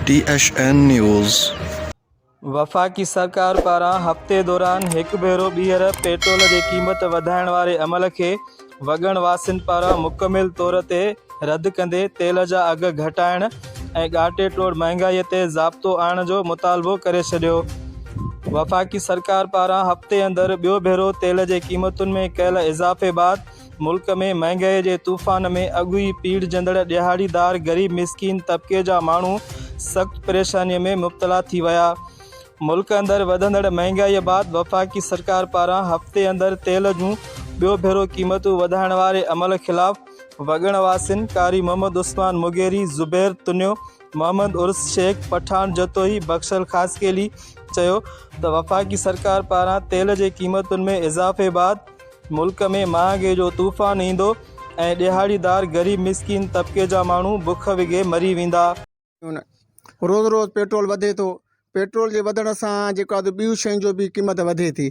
ٽي H N news. وفاقي سرڪار پاران هفتي دوران هڪ ڀيرو ٻيهر پيٽرول جي قيمت وڌائڻ واري عمل کي وڳڻ واسين پاران مڪمل طور تي رد ڪندي تيل جا اگهه گهٽائڻ ۽ ڳاٽي ٽوڙ مهانگائي تي ضابطو آڻڻ جو مطالبو ڪري ڇڏيو. وفاقي سرڪار پاران هفتي اندر ٻيو ڀيرو تيل جي قيمتن ۾ ڪيل اضافي بعد ملڪ ۾ مهانگائي جي طوفان ۾ اڳ ئي پيڙهجندڙ ڏهاڙيدار غريب مسڪين طبقي جا ماڻهو سخت پريشاني ۾ مبتلا ٿي ويا. ملڪ اندر وڌندڙ مهانگائي بعد وفاقي سرڪار پاران هفتي اندر تيل جون ٻيو ڀيرو قيمتون وڌائڻ واري عمل خلاف وڳڻ واسين قاري محمد عثمان مغيري، زبير تنيو، محمد عرس شيخ، پٺاڻ جتوئي، بخشل خاصخيلي چيو ته وفاقي سرڪار پاران تيل جي قيمتن ۾ اضافي بعد ملڪ ۾ مهانگي جو طوفان ايندو ۽ ڏهاڙيدار غريب مسڪين طبقي جا ماڻهو بک وگهي مري ويندا. ٿيون. روز روز پيٽرول وڌي ٿو، پيٽرول جي وڌڻ سان جيڪو آهي ٻيون شين جو به قيمت وڌي ٿي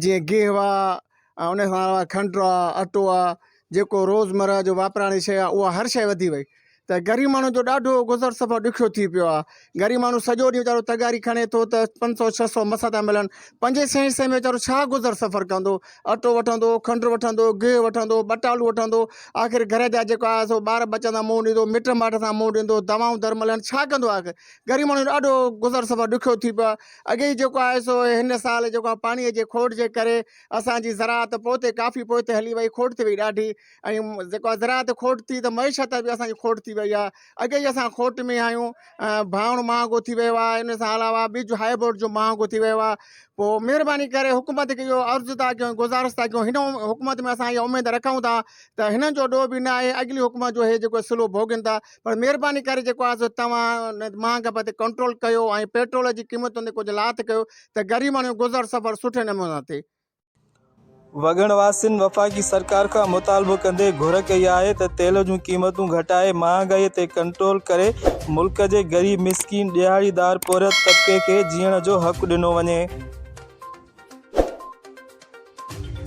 جيئن گيهه آهي ۽ ان کان علاوه کنڊ آهي اٽو آهي جيڪو روز مرهه جو واپراڻي شيء آهي اها هر شيء وڌي وئي ته غريب ماڻهو جو ڏاڍو گذر سفر ڏکيو ٿي پيو آهي غريب ماڻهو سڄو ڏينهن ويچارو تغاري کڻي ٿو ته پنج سؤ ڇهه سؤ مس ٿا ملن پنجين سئين سئين ۾ ويچارو ڇا گذر سفر ڪندو. اٽو وٺندو، کنڊ وٺندو، گيهه وٺندو، ٻٽالو وٺندو، آخر گهر جا جيڪو آهي سو ٻار ٻچن سان منهن ڏيندو، مٽ مائٽ سان منهن ڏيندو، دوائون در ملن، ڇا ڪندو آخر؟ غريب ماڻهو جو ڏاڍو گذر سفر ڏکيو ٿي پيو آهي. اڳي ئي جيڪو آهي سو هن سال جيڪو آهي پاڻيء جي کوٽ جي ڪري اسان جي زراعت پوئتي ڪافي پوئتي هلي وئي، کوٽ ٿي وئي ڏاڍي ۽ جيڪو آهي زراعت کوٽ ٿي ته معيشت ۾ به اسان جي کوٽ ٿي وئي آهي. اڳي ئي اسان کوٽ ۾ آهيون ڀانئڻ مهانگو ٿي ويو آهي ان سان علاوه ٻج هاء بورڊ جو مهانگو ٿي ويو آهي پوء مهرباني ڪري حڪومت کي اهو عرض ٿا ڪيون گذارش ٿا ڪيون هن حڪومت ۾ اسان اها اميد رکون ٿا ته هنن جو ڏوهه به نه آهي اڳلي حڪومت جو هي جيڪو سلو ڀوڳين ٿا پر مهرباني ڪري جيڪو آهي سو توهان مهانگا پتي ڪنٽرول ڪيو ۽ پيٽرول جي قيمتن تي ڪجهه لاٿ ڪيو ته غريب ماڻهو گذر سفر سٺي نموني سان ٿئي وڳڻ واسين وفاقي سرڪار کان مطالبو ڪندي گهر ڪئي آهي ته تيل جون قيمتون گهٽائي مهانگائي تي ڪنٽرول ڪري ملڪ جي غريب مسڪين ڏهاڙيدار پورهيت طبقي کي جيئڻ جو حق ڏنو وڃي.